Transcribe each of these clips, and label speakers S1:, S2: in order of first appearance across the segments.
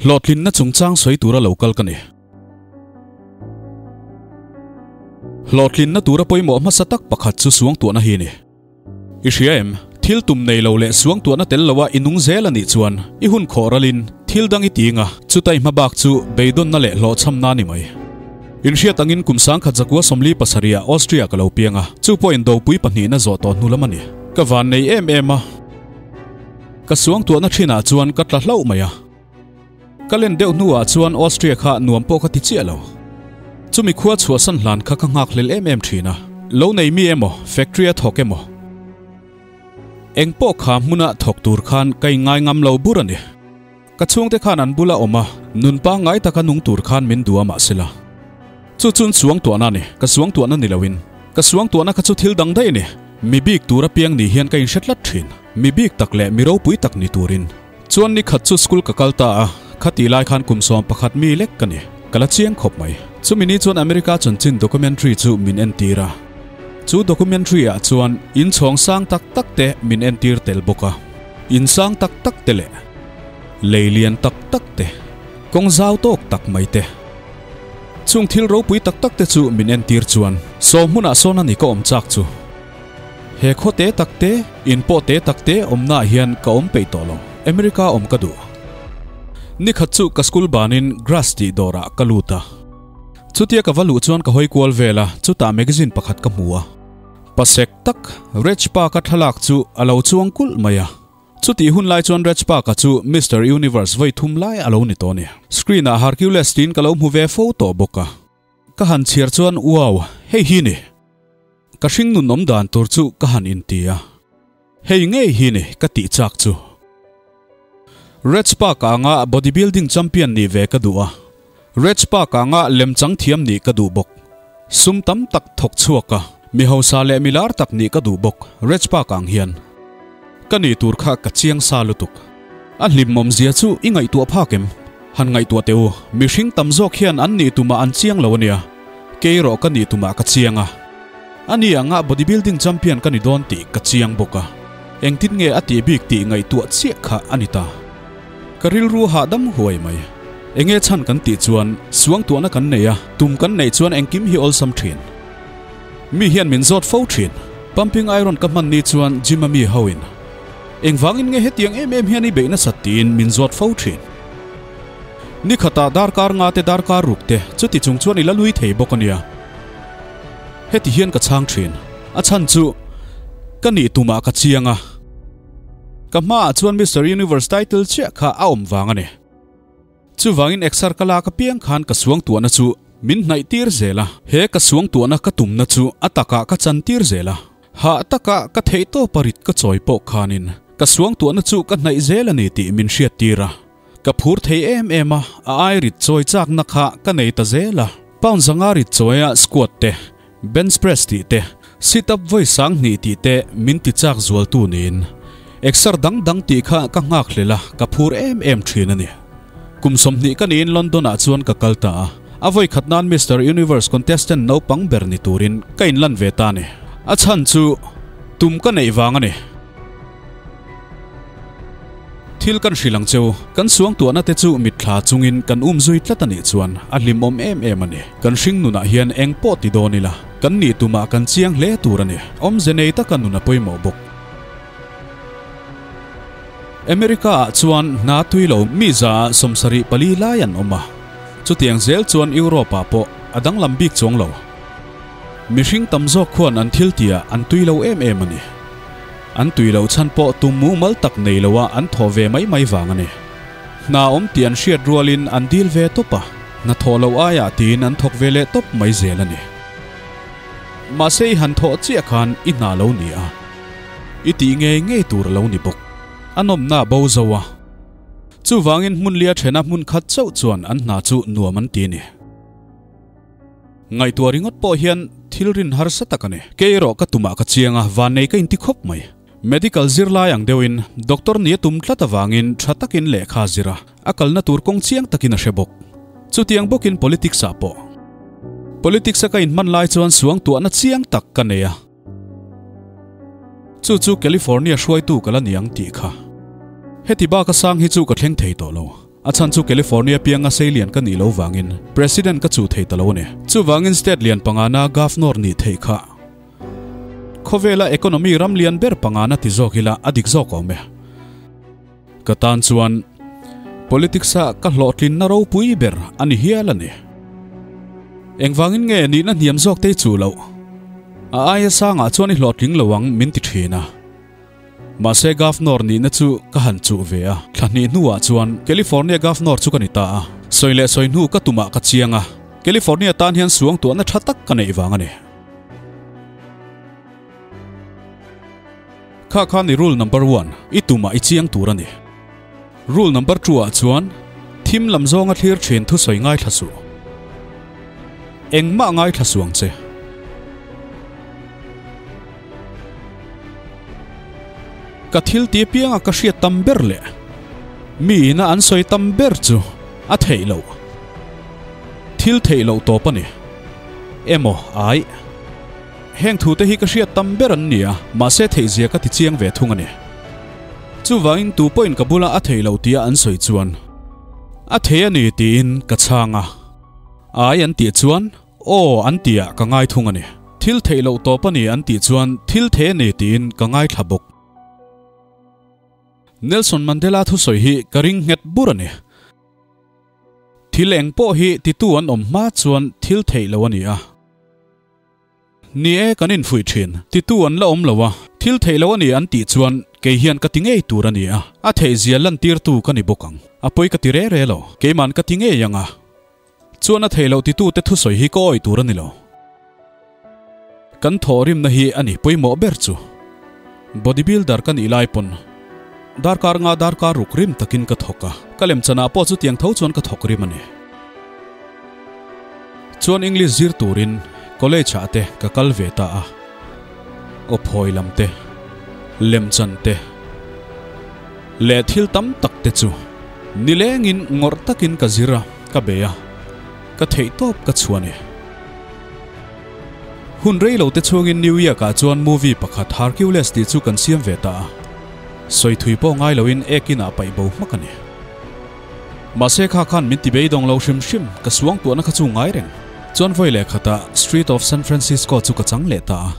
S1: Hlawhtlinna chungchang sawi tur a lo kal ka ni. Hlawhtlinna tura pawimawh hmasa tak pakhat chu suangtuahna hi a ni. I hria em? Thil tum nei lo leh suang tuahna tel loa i nung zel a nih chuan i hun khawh ral in thil dang i ti eng a? Chuta i hma bak chu beidawnna leh hlawhchhamna a ni mai. In hriat angin kum sangkhat zakua sawmli pasarihah Austria ka lo piang a, chu pawhin dopui pahnihna zawh tawh hnu lam a ni. Ka van nei em em a. Ka suang tuahna thinah chuan ka tla hlauh mai a. Ka len deuh hnuah chuan Austria kha nuam pawh ka ti chiah lo. Chumi khua chhuah san hlan kha ka nghakhlel em em ṭhin a, lo neimi emaw, factory a thawk emaw, engpawh kha hmuna thawk tur khan ka inngai ngam lo bur a ni. Ka chhungte khan an bula awm a, nun pangngai taka nung tur khan min duh a mah sela, chu chun suangtuahna a ni, ka suangtuahna ni loin. Ka suangtuahna kha chu thil dang daih a ni, mi bik tura piang ni hian ka inhre tlat ṭhin, mi bik tak leh mi ropui tak ni turin. Chuan ni khat chu school ka kal ta a, khati lai khan kum sawm pakhat mi lek ka ni. Ka la chiang khawp mai. Chumi ni chuan America chun chin documentary chu min entir a. Chu documentary ah chuan in chhawng sang tak tak te min entir tel bawk a. In sang tak tak te leh lei lian tak tak te, kawng zau tawk tak mai te, chung thil ropui tak tak te chu min entir chuan sawm hmunah sawn a ni ka awm chak chu. He khaw te tak te, in pawh te tak te awmnaah hian ka awm peih tawh lo. America awm ka duh. Ni khat chu ka school banin grass tih dawrah ka lut a. Chutia ka va luh chuan ka hawi kual vel a, chutah magazine pakhat ka hmu a. Pasek tak, Reg Park-a thlalak chu a lo chuang kulh mai a. Chutih hun lai chuan Reg Park-a chu Mister Universe vawi thum lai a lo ni tawh a ni. Screen-ah Hercules tiin ka lo hmu ve fo tawh bawk a. Ka han chhiar chuan Uau, hei hi ni? Ka hring nun awm dan tur chu ka han inti a. Hei ngei hi ni? ka tih chak chu. Reg Park a anga bodybuilding champion nih ve ka duh a. Reg Park a anga lem chang thiam nih ka duh bawk. Sum tam tak thawk chhuak a, mi hausa leh mi lar tak nih ka duh bawk Reg Park ang hian. Ka nih tur kha ka chiang sa lutuk. A hlimmawm zia chu i ngaihtuah phak em? Han ngaihtuah teh u, mihring tam zawk hian an nih tumah an chiang lo a nia, kei erawh ka nih tumah ka chiang a, a ni angah bodybuilding champion ka ni dawn tih ka chiang bawk a, engtin nge a tih bik tih ngaihtuah chiah kha a ni ta. Ka rilru a hahdam huai mai, enge chhan kan tih chuan suangtuahna kan nei a, tum kan neih chuan engkim hi awlsam thin. Mi hian min zawt fo thin, pumping iron ka hmanni chuan gym-a mi hoin Engvangin nge hetiang em em hian i beih nasat tiin min zawt fo thin? Ni khata darkar nga te darkar ruk te chuti chung chuan i la lui thei bawk a nia. Heti hian ka chhang thin, a chhan chu ka nih tumah ka chiang a. Ka hmaah chuan Mister Universe title chiah kha a awm vang a ni. Chuvangin exer ka lak apiang khan ka suangtuahna chu min hnaih tir zel a, he ka suangtuahna ka tumna chu a takah ka chan tir zel a, hah takah ka theihtawpa rit ka chawi pawh khanin ka suangtuahna chu ka hnaih zel a ni tih min hriat tir a, ka phur thei em em a, a ai rit chawi chakna kha ka nei ta zel a, pound zanga rit chawiah squat te, Bench press tih te, sit up vawi sang hnih tih te min ti chak zualtu niin exer dang dang tih kha ka nghak hle la, ka phur em em thin a ni. Kum sawmhnih ka niin London ah chuan ka kal ta a, a vawi khat nan Mister Universe contestant naupang ber ni turin ka inlan ve ta a ni. A chhan chu tum ka neih vang a ni. Thil kan hrilh ang chu, kan suangtuahna te chu mitthla chungin kan um zui tlat anih chuan a hlimawm em em a ni. Kan hring nunah hian eng pawh ti dawn ila, kannih tumah kan chiang hle tur a ni. Awmze nei taka nun a pawimawh bawk. America-ah chuan hna tui lo mi zaah sawmsarih pali lai an awm a, chutiang zel chuan Europe-ah pawh a danglam bik chuang lo. Mihring tam zawk khuan an thiltiah an tui lo em em a ni. An tui loh chhan pawh tum mumal tak nei lo a an thaw ve mai mai vang a ni. Hna a awm tih an hriat rualin an dil ve tawp a, hna thaw loh aiah tiin an thawk ve leh tawp mai zel a ni. Mahse i han thawh chiah khan i hna lo ni a, i tih ngei ngei tur a lo ni bawk. An awmna bo zo a, chuvangin hmunlia thena hmun khat chauh chuan an hna chu nuam an ti a ni. Ngaihtuah ringawt pawh hian thilrin harsa tak a ni. Kei erawh ka tumah ka chiang a, vannei ka inti khawp mai. Medical zir lai ang deuhin doctor nia tum tlat avangin tha takin lehkha a zir a, a kalna tur kawng chiang takin a hre bawk. Chutiang bawkin politics-ah pawh. Politics-a ka inhman lai chuan suangtuahna chiang tak ka nei a. Chu chu California hruaitu ka la ni ang tih kha. Heti baka sang hi chu ka thleng thei tawh lo. A chhan chu California pianga sei lian ka nih lo vangin President ka chuh thei ta lo a ni. Chuvangin State lian pangana Governor nih theih kha khawvela economy ram lian ber pangana ti zawk ila a dik zawk awm e. Ka tan chuan politics-a ka hlawhtlin na ropui ber a ni hial a ni. Engvangin nge nihna hniam zawk te chu loh a aia sangah chuan i hlawhtling lo ang min ti thin a. Mahse governor nihna chu ka han chuh ve a. Thla hnih hnuah chuan California governor chu ka ni ta a. Sawi leh sawi hnu ka tumah ka chiang a, California tan hian suangtuahna tha tak ka neih vang a ni. Kha khan i rule number one i tumah i chiang tur a ni. Rule number two ah chuan thim lam zawnga thlir thin thusawi ngaithla suh. Engmah ngaithla suh ang che. Ka thil ti apianga ka hriat tam ber leh mi ina an sawi tam ber chu a theih loh. Thil theih loh tawp a ni. Emaw ai? Heng thu te hi ka hriat tam ber an ni a, mahse theihzia ka ti chiang ve thung a ni. Chuvangin tu pawhin ka bula a thei lo tia an sawi chuan, A thei a ni tiin ka chhang a. Ai an tih chuan, Aw an tia ka ngai thung a ni. Thil theih loh tawp a ni an tih chuan, Thil thei a ni tiin ka ngai thla bawk. Nelson Mandela thusawi hi ka ring nghet bur a ni. Thil eng pawh hi titu an awm hma chuan thil theih lo a ni a. Ni e, kan infuih thin, titu an la awm lo a, thil theih lo a ni an tih chuan kei hian ka ti ngei tur a ni a, a theih zia lantirtu ka ni bawk ang, a pawi ka ti re re lo, keiman ka ti ngei ang a, chuan a theih loh titute thusawi hi ka awih tur a ni lo. Kan thawhrimna hi a ni pawimawh ber chu. Body builder ka nih lai pawn darkar nga darkar ruk rim takin ka thawk a, ka lem chan ah pawh chutiang tho chuan ka thawk rim a ni. Chuan English zir turin college ah te ka kal ve ta a, aw phawi lam te, lem chan te leh thil tam tak te chu ni leng in ngawrh takin ka zir a, ka bei a, ka theih tawp ka chhu a ni. Hun rei lo te chungin New Yak ah chuan movie pakhat Harcules tih chu kan siam ve ta a, sawi thui pawh ngai loin ek inah paih bo hmak a ni. Mahse kha khan min ti beidawng lo hrim hrim, ka suang tuahna kha chu ngai reng. Chuan vawi leh khatah Strait of San Francisco chu ka chang leh ta a.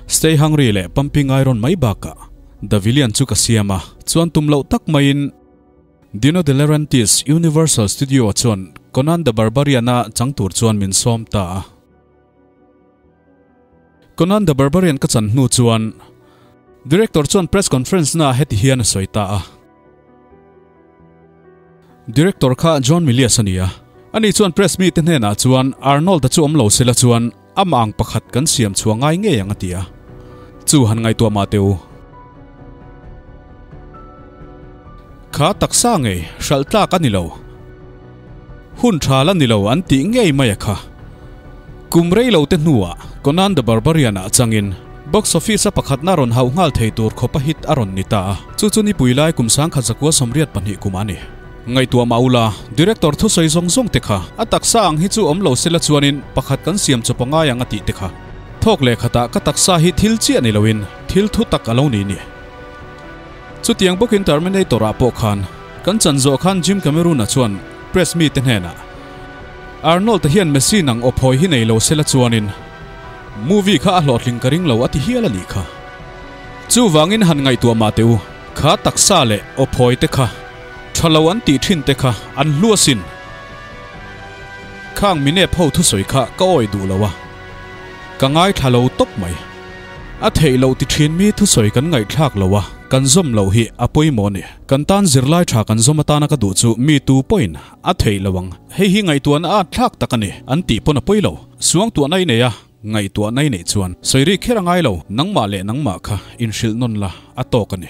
S1: Stay Hungry leh Pumping Iron mai bakah The Villain chu ka siam a, chuan tum loh tak maiin, Dino De Laurentiis, Universal Studio chuan Conan the Barbarian-a chang tur chuan min sawm ta a. Conan the Barbarian ka chan hnu chuan Director chuan press conference naah heti hian a sawi ta a, Director kha John Milius a ni a, ani chuan press mite hnenah chuan Arnold-a chu awm lo sela chuan, Amah ang pakhat kan siam chhuah ngai ngei ang a ti a. Chu han ngaihtuah mah teh u. Kha taksa ngei, hralh tlak a ni lo. Hun thal a ni lo an tih ngei mai a kha. Kum rei lo te hnuah Conan the Barbarian ah changin box office-a pakhatna rawn hauh nghal thei tur khawpa hit a rawn ni ta a. Chu chu nipui lai kum sangkhat zakua sawmriat pahnih kumah a ni. Ngaihtuah mah ula, Director thusawi zawng zawng te kha a taksa ang hi chu awm lo sela chuanin pakhat kan siam chu paw ngai ang a tih te kha. Thawk leh khatah ka taksa hi thil chiah ni loin thil thu tak a lo ni nia. Chutiang bawkin Terminator-ah pawh khan kan chan zawh khan Jim Cameron-a chuan press mite hnenah Arnold-a hian machine ang awp hawi hi nei lo sela chuanin movie kha a hlawhtling ka ring lo a ti hial a nih kha. Chuvangin han ngaihtuah mah teh u, kha taksa leh awp hawite kha. Tha lo an tih thin te kha an hluasin khang minute ho thusawi kha ka awih duh lo a, ka ngaithla lo tawp mai. A theih loh ti thin mi thusawi kan ngaihthlak lo a kan zawm loh hi a pawimawh a ni. Kan tan zirlai tha kan zawm atana ka duh chu mi tu pawhin a theih lo ang. Hei hi ngaihtuahna at thlak tak a ni, an tih pawn a pawi lo. Suangtuahna i nei a, ngaihtuahna i neih chuan sawi ri kher a ngai lo, nangmah leh nangmah kha inhrilh nawn la a tawk a ni.